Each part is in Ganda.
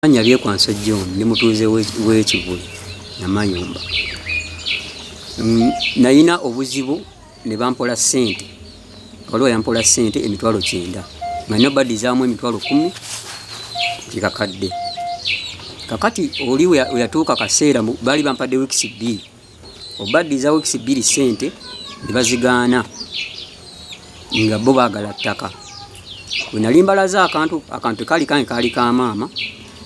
Amannya Byekwanso John ndi mutuuze w'e Kivule Namayumba. Nalina obuzibu ne bampola ssente, waliwo yampola ssente emitwalo kyenda nga nina badizaamu emitwalo kkumi kikakadde. Kakati oli we yatuuka kaseera baali bampadde wiikisi bbiri. obaddiza wiikisi bbiri ssente ne bazigaana nga bo baagala ttaka bwe nali mbalaze akantu akantu tekaali kange kaali ka maama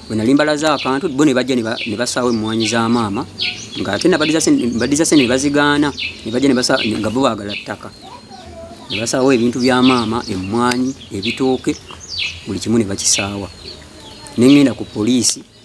bwe nali mbalaze akantu bo ne bajja ne basaawo emmwanyi za maama nga ate nabaddiza ssente ne bazigaana ne bajja nga bo baagala ttaka ne basaawo ebintu bya maama emmwanyi ebitooke buli kimu ne bakisaawa ne ŋŋenda ku poliisi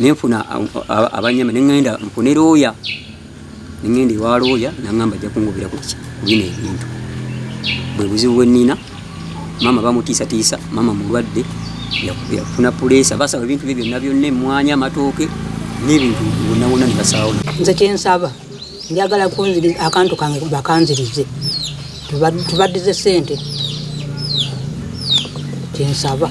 nenfuna abanyama nengenda nfune looya nengenda ewa looya nangamba ajja kungobera kuki kubino ebintu bwe buzibu bwenina maama bamutiisatiisa maama mulwadde yafuna puleesa basaba ebintu bye byonna byonna emwanya amatooke n'ebintu wonawona ne basaawo nze kyensaba njagala kunziriza akantu kange bakanzirize tubaddize sente kyensaba